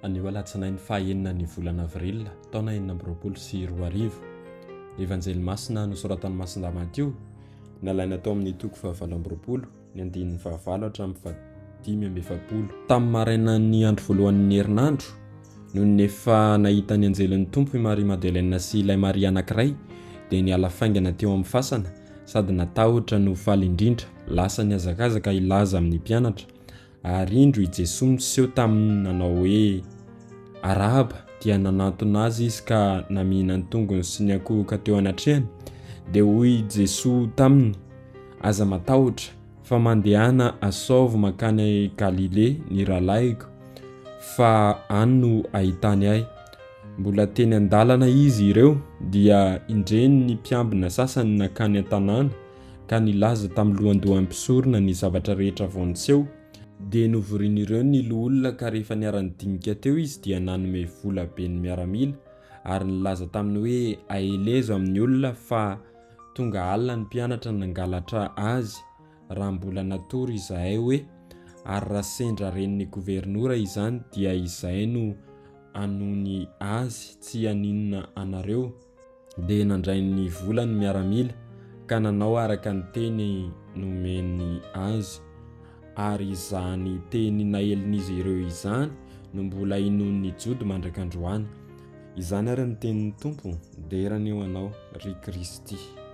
Anio Alatsinainy fahaenina ny volana Avril taona enina amby roapolo sy roa arivo. Ny Evanjely Masina nosoratan'i Masina Matio, nalaina tao amin'ny toko fahavalo amby roapolo, ny andininy fahavalo hatramin'ny fahadimy amby efapolo. Tamin'ny marainan'ny andro voalohan'ny herinandro, nony efa nahita ny anjelin'ny Tompo i Maria Madeleine sy ilay Maria anankiray, dia niala faingana teo amin'ny fasana sady natahotra no faly indrindra. Lasa nihazakazaka hilaza amin'ny mpianatra, ary indro i Jesoa niseho taminy nanao hoe, Arahaba, dia nanantona azy izy ka namihina ny tongony sy niankohoka teo anatrehany. Dia hoy i Jesoa taminy, Aza matahotra, fa mandehana asaovy mankany Galilea ny rahalahiko, fa any no hahitany ahy. Mbola teny an-dalana izy ireo dia indreny ny mpiambina sasany nankany an-tanàna ka nilaza tamin'ny lohandohan'ny mpisorona ny zavatra rehetra vao niseho. Dia novorian'ireo ny loholona ka rehefa niara-nidinika teo izy dia nanome vola be ny miaramila ary nilaza taminy hoe aelezo amin'ny olona fa tonga alina ny mpianatra nangalatra azy raha mbola natory izahay hoe ary raha sendra ren'ny governora izany dia izay no anony azy tsy haninona anareo dia nandray ny vola ny miaramila ka nanao araka ny teny nomeny azy ary izany teny naelin'izy ireo izany no mbola inon'ny jody mandrakandroany izany ary ny tenin'ny tompo dera ny eo anao ry kristy